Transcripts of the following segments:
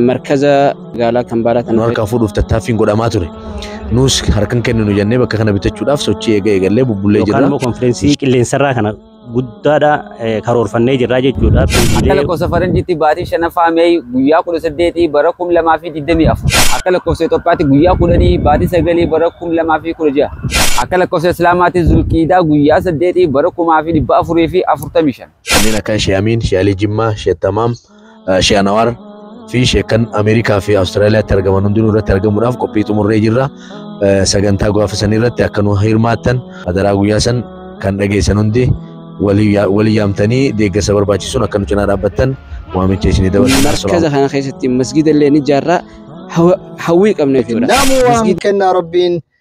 markaza magaalaa Kambaalaa kan nu harkaa fuudhuuf tattaaffiin godhamaa ture. Nuus harkan kenninu jennee bakka kana bitachuudhaaf sochii eega eegallee bubbullee jirra. Yookaan immoo konfireensii qilleensarraa kana guddaadha karoorfannee jirra jechuudha. Akka lakkoofsa faranjiitti baatii shanaffaa Meey guyyaa kudha saddeetii bara kum lamaa fi digdamii afur. Akka lakkoofsa Itoophiyaatti guyyaa kudhanii baatii sagalii bara kum lamaa fi kudha ja'a. Akka lakkoofsa Islaamaatti Zulqiidaa guyyaa saddeetii bara kumaa fi dhibba afurii fi afurtamii shan. Kanneen akka Shee'amiin, Shee'alii Jimmaa, Shee'tamaam, Shee Anawaar fi sheekan Ameerikaa fi Awustiraaliyaatti argaman hundinuu irratti argamuudhaaf qophii xumurree jirra. Sagantaa gaafa sanii irratti akka nu hirmaattan adaraa guyyaa san kan dhageessan hundi walii yaamtanii deeggarsa barbaachisuun akka nu cinaa dhaabbattan waamicha isinii dabarsa. Markaza kana keessatti masgida illee ni ijaarraa hawwii qabna jechuudha. Namuu waan kennaa rabbiin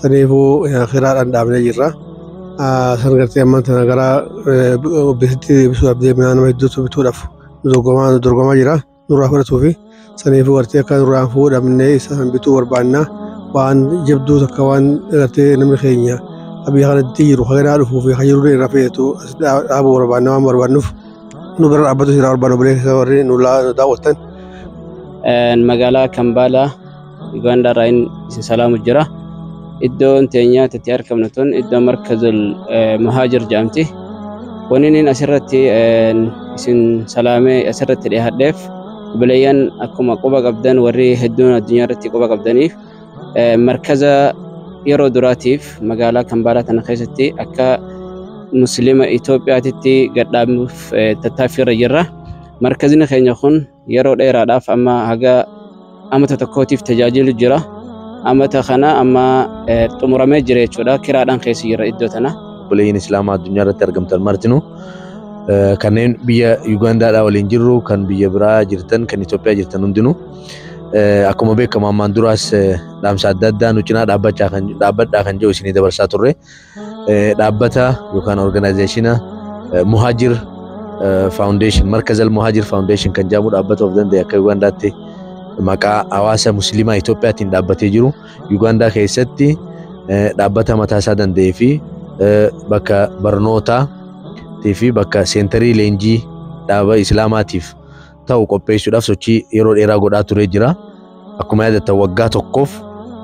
Saniifuu kiraa dhandhaabnee jirra. San gartee ammaan tana gara obbisitti deebisuudhaaf deemnaa nama hedduutu bituudhaaf nu dorgomaa nu dorgomaa jira nurraa fudhatuufi. Saniifuu gartee akka nurraa hin fuudhamne isa san bituu barbaanna. Waan jabduu takka waan gartee namni keenya biyya kanatti jiru haganaa dhufuu fi kan jiru irra feetu as dhaabuu barbaanna waan barbaannuuf nu bira dhaabbatu irraa barbaanna obolee keessa warri nu daawwattan. Magaalaa Kambaalaa Uganda irraa inni isin salaamu jira. Iddoon teenyaa itti argamnu tun iddoo markazul muhaajir jedhamti. Wanni asirratti isin salaamee asirratti dhiyaadheef bilayyan akkuma quba qabdan warri hedduun addunyaa irratti quba qabdaniif markaza yeroo duraatiif magaalaa Kambaalaa tana keessatti akka muslima Itoophiyaatitti gadhaabuuf tattaaffii irra jirra. Markazni keenya kun yeroo dheeraadhaaf amma haga amata tokkootiif tajaajilu jira. Amata kana amma eh, xumuramee jira jechuudha. Kiraadhaan keessa jira iddoo tana. obboleeyyiin Islaamaa addunyaa irratti argamtan martinuu eh, kanneen biyya Yugaandaadhaa waliin jirru kan biyya biraa jirtan kan Itoophiyaa jirtan hundinuu eh, akkuma beekamu ammaan duraas eh, dhaamsa adda addaa nu cinaa dhaabbachaa kan dhaabbadhaa kan jedhu isinii dabarsaa turre. dhaabbata yookaan organizeeshina muhaajir faawundeeshin markazal muhaajir faawundeeshin kan jedhamu dhaabbata of danda'e akka Yugaandaatti maqaa hawaasa musliimaa Itoophiyaatiin dhaabbatee jiru Yugaandaa keessatti dhaabbata mataa isaa danda'ee fi bakka barnootaa fi bakka seentarii leenjii dhaaba islaamaatiif ta'u qopheessuudhaaf sochii yeroo dheeraa godhaa turee jira. Akkuma yaadattan waggaa tokkoof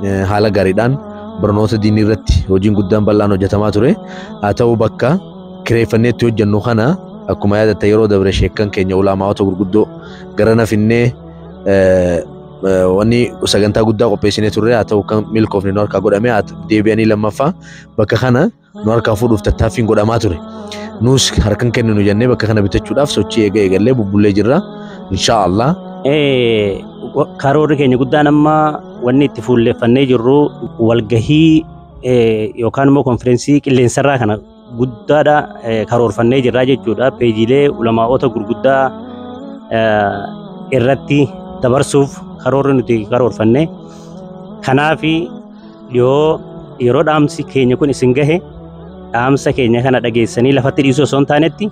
eh, haala gaariidhaan barnoota diinii irratti hojiin guddaan bal'aan hojjetamaa ture. Haa ta'u bakka kireeffanneetti hojjennu kana akkuma yaadattan yeroo dabre sheekkan keenya ulaamaawota gurguddoo gara nafinnee eh, eh, wanni sagantaa guddaa qopheessinee turre haa ta'u kan milkoofne nu harkaa godhame haa ta'u deebi'anii lammaffaa bakka kana nu harkaa fuudhuuf tattaaffiin godhamaa ture. Nuus harkan kenninu jennee bakka kana bitachuudhaaf sochii eega eegallee bubbullee jirra. Inshaa Allah. Eh, wa- karoorri keenya guddaan amma wanni itti fuulleffannee jirru walgahii eh, yookaan immoo konferensii qilleensarraa kana guddaadha eh, karoorfannee jirraa jechuudha. Peejiilee ulamaa'ota gurguddaa eh, irratti dabarsuuf karoorri nuti karoorfanne. Kanaafi Dhiyoo yeroo dhaamsi keenya kun isin gahe dhaamsa keenya kana dhageessanii lafatti dhiisuu osoo hin taanetti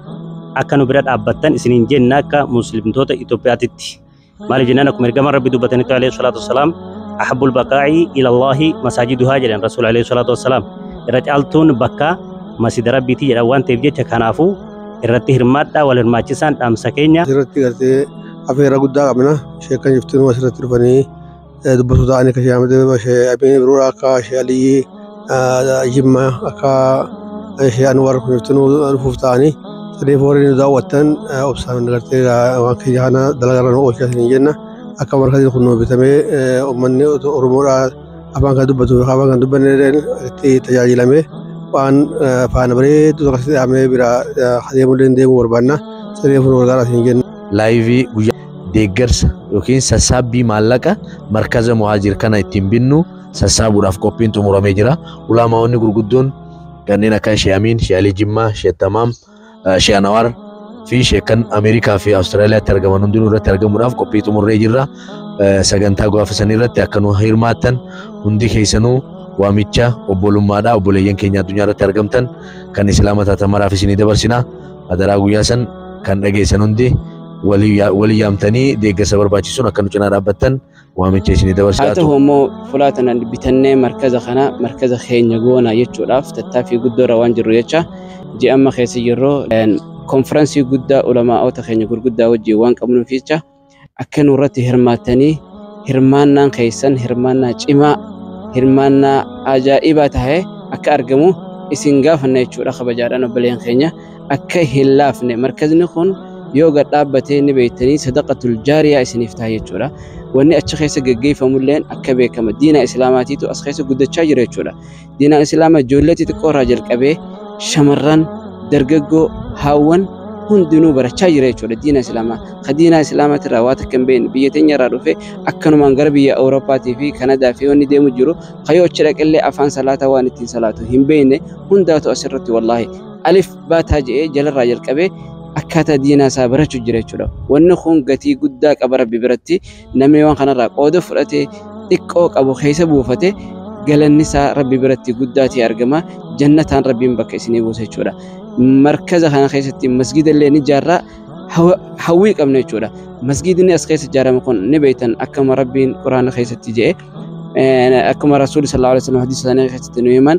akka nu bira dhaabbattan isiniin jenna akka muslimtoota Itoophiyaatitti. Maaliif jennaan akkuma ergamaan rabbi dubbatanitti alayhi salaatu wassalaam ahabbul baqaa'i ilallahi masaajiduhaa jedhan rasuul alayhi salaatu wassalaam irra caaltuun bakka masjida rabbiitii jedhan waan ta'eef jecha kanaafuu irratti hirmaadhaa wal hirmaachisaan dhaamsa keenya. Asirratti gartee afeerraa guddaa qabna. Sheekan jiftinuu asirratti dhufanii dubbatoota ani akka shaamate abin biroo akka shee aliyyi jimma akka shee anwar kuniftinuu dhufuuf ta'anii sadiif warri nu daawwattan obsaan gartee waan keenya kana dalagarra nu oolchaa isin jenna akka markazii kun nu bitamee uummanni oromoodhaa afaan kan dubbatu afaan kan dubbanne itti tajaajilamee waan faana bareedu akkasitti dhaabnee bira adeemuu dandeenyu barbaanna sadiif nu gargaara isin jenna. Laayivii guyyaa. deeggarsa yookiin sassaabbii maallaqa markaza muhaajir kana ittiin binnu sassaabuudhaaf qophiin xumuramee jira. Ulaamaawwanni gurguddoon kanneen akka Shee Amiin, Shee Alii Jimmaa, Shee Tamaam, Shee Anawaar fi sheekan Ameerikaa fi Awustiraaliyaatti argaman hundinuu irratti argamuudhaaf qophii xumurree jirra. Sagantaa gaafa sanii irratti akka nu hirmaattan hundi keessanuu waamicha obbolummaadha. Obboleeyyan keenya addunyaa irratti argamtan kan islaama taatan maraaf isinii dabarsina. Adaraa guyyaa san kan dhageessan hundi walii yaamtanii deeggarsa barbaachisuun akka nu cinaa dhaabbattan waamicha isinii dabarsaa. Haa ta'u immoo fulaa tana bitannee markaza kana markaza keenya goona jechuudhaaf tattaaffii guddoo irra waan jirru jecha ji'a amma keessa jirru konfiraansii guddaa ulamaa'ota keenya gurguddaa wajjin waan qabnuuf jecha akka nu irratti hirmaattanii hirmaannaan keessan hirmaannaa cimaa hirmaannaa ajaa'ibaa tahe akka argamu isin gaafanna jechuudha kabajaadhaan obboleen keenya akka hin laafne markazni kun yoo gad dhaabbatee ni beektanii sadaqatul jaariyaa isiniif taha jechuudha wanni achi keessa geggeeffamulleen akka beekama diina islaamaatiitu as keessa guddachaa jira jechuudha diinaan islaama ijoollee xixiqqoo irraa jalqabee shamarran dargaggoo haawwan hundinuu barachaa jira jechuudha diina islaamaa ka diinaa islaamati irraa waa takka hin beekne biyya teenya irraa dhufe akkanumaan gara biyya awurooppaatii fi kanadaa fi wanni deemu jiru kayoo achi dhaqillee afaan salaataa waan ittiin salaatu hin beekne hundaatu asirratti wallaahi alif baataa je'ee jalarraa jalqabee akkaataa diinaa isaa barachuu jira jechuudha wanni kun gatii guddaa qaba rabbi biratti namni waan kanarraa qooda fudhate xiqqoo qabu keessa buufate galanni isaa rabbi biratti guddaa ta'e argama jannataan rabbiin bakka isinii buusa jechuudha markaza kana keessatti masgida illee ni jaarraa hawa- hawwii qabna jechuudha masgidni as keessa ijaarame kun ni beektan akkuma rabbiin quraana keessatti jedhe eh, akkuma rasuuli sallallahu alaihi wasallam hadiisa isaanii keessatti nu himan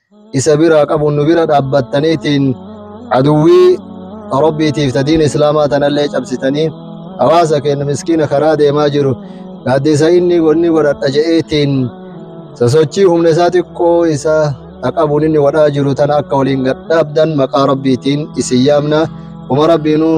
isa biraa qabuun nu bira dhaabbattaniitiin aduwwii rabbiitiif tadiin islaamaa tanallee cabsitanii hawaasa keenya miskiina karaa deemaa jiru gaaddisa inni inni godhadha je'eetiin sosochii humna isaa xiqqoo isa qabuun inni godhaa jiru tana akka waliin gadhaabdan maqaa rabbiitiin isin yaamna uma rabbiinuu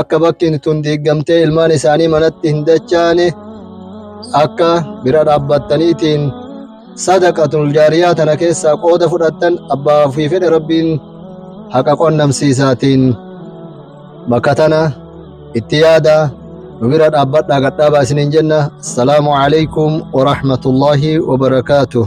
akka bakkiin tun diiggamtee ilmaan isaanii manatti hin dachaane akka bira dhaabbattaniitiin sadaqatul jaariyaa tana keessaa qooda fudhattan abbaa ofii fedhe rabbiin haqa qonnamsiisaatiin bakka tana itti yaada nu bira dhaabbadhaa gadhaabaa isiniin jenna assalaamu alaikum warahmatullaahi wabarakaatuh